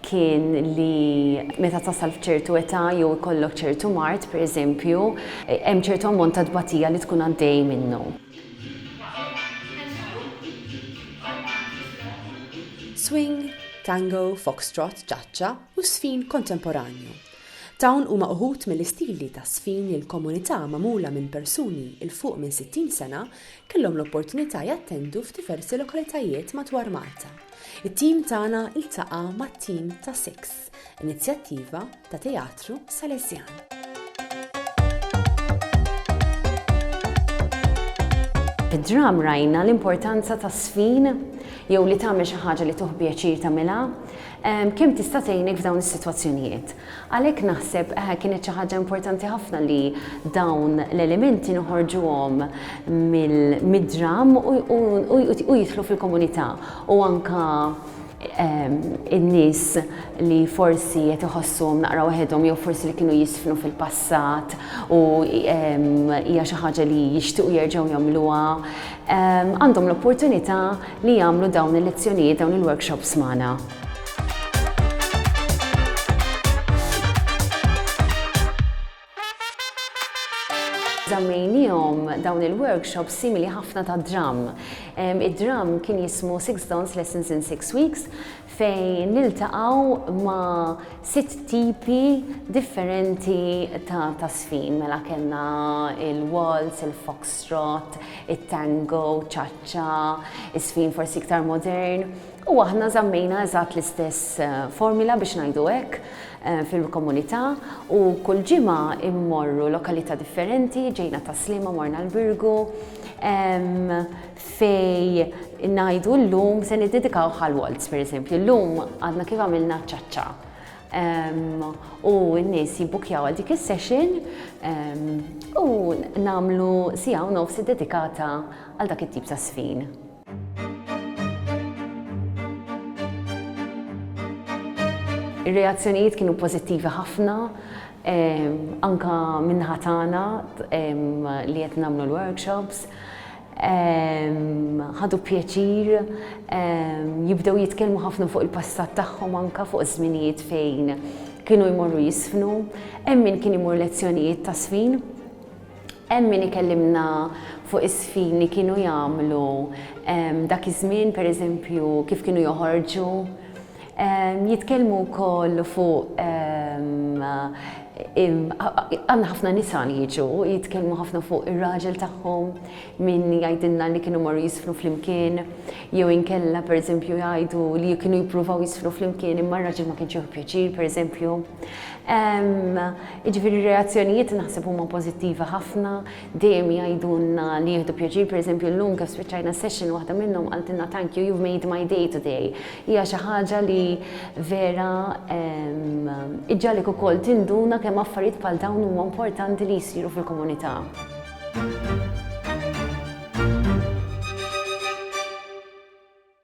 kien li meta tasal f'ċertu età jew ikollok ċertu mard, pereżempju, hemm ċertu ammont ta' tbatija li tkun għaddej minnu. Swing, Tango, Foxtrot, Cha-Cha u Żfin Kontemporanju. Dawn huma uħud mill-istili ta' żfin li l-komunità magħmula minn persuni 'l fuq minn 60 sena kellhom l-opportunità jattendu f'diversi lokalitajiet madwar Malta. It-tim tagħna ltaqa' mat-tim ta' Six, inizjattiva ta' teatru Salesjan. Fid-dram rajna l-importanza ta' sfin jew li tagħmel xi ħaġa li tuħ pjaċir tagħmilha, kemm tista' tgħinek f'dawn is-sitwazzjonijiet. Għalhekk naħseb kienet xi ħaġa importanti ħafna li dawn l-elementi noħorġuhom mid-dramm u jidħlu fil-komunità u anke n-nies li forsi qed iħossuhom naqra waħedhom jew forsi li kienu jiżfnu fil-passat u hija xi ħaġa li jixtiequ jerġgħu jagħmluha, għandhom l-opportunità li jagħmlu dawn il-lezzjonijiet, dawn il-workshops magħna. Żammejniehom dawn il-workshops simili ħafna ta' dram. Id-dram kien jismu Six Dance Lessons in Six Weeks fejn niltaqgħu ma' sitt tipi differenti ta' tasfin. Mela kellna il-waltz, il-foxtrot, it-tango, ċaċċa, isfin forsi iktar modern. U aħna żammejna eżatt l-istess formula biex ngħidu hekk fil-komunità u kull ġimgħa immorru lokalità differenti, ġejna ta' Sliema morna l-Birgu fej ngħidu llum se niddedikaw għal waltz pereżempju. Illum għadna kif għamilna ċaċċa u n-nies jibbukjaw għal dik is-session u nagħmlu siegħa u nofs iddedikata għal dak it-tip ta' żfin. Ir-reazzjonijiet kienu pożittivi ħafna, anke min-naħa tagħna li qed nagħmlu l-workshops. Ħadu pjaċir, jibdew jitkellmu ħafna fuq il-passat tagħhom anke, fuq iż-żminijiet fejn kienu jmorru jiżfnu. Hemm min kien imur lezzjonijiet t'għasfin. Hemm min ikellimna fuq is-sfin li kienu jagħmlu dak iż-żmien, pereżempju kif kienu joħorġu. Jitkellmu wkoll fuq għandna ħafna nisa li jiġu, jitkellmu ħafna fuq ir-raġel tagħhom, min jgħidilna li kienu marru jisfnu flimkien, jew inkella pereżempju jgħidu li kienu jippruvaw jisfnu flimkien imma r-raġel ma kienx jieħu pjaċir pereżempju. Jiġifieri r-reazzjonijiet naħseb huma pożittivi ħafna, dejjem jgħidulna li jieħdu pjaċir, pereżempju llum kif spiċċajna s-session waħda minnhom qaltilna thank you, you've made my day today. Hija xi ħaġa li vera iġġagħlek ukoll tinduna kemm affarijiet bħal dawn huma importanti li jsiru fil-komunità.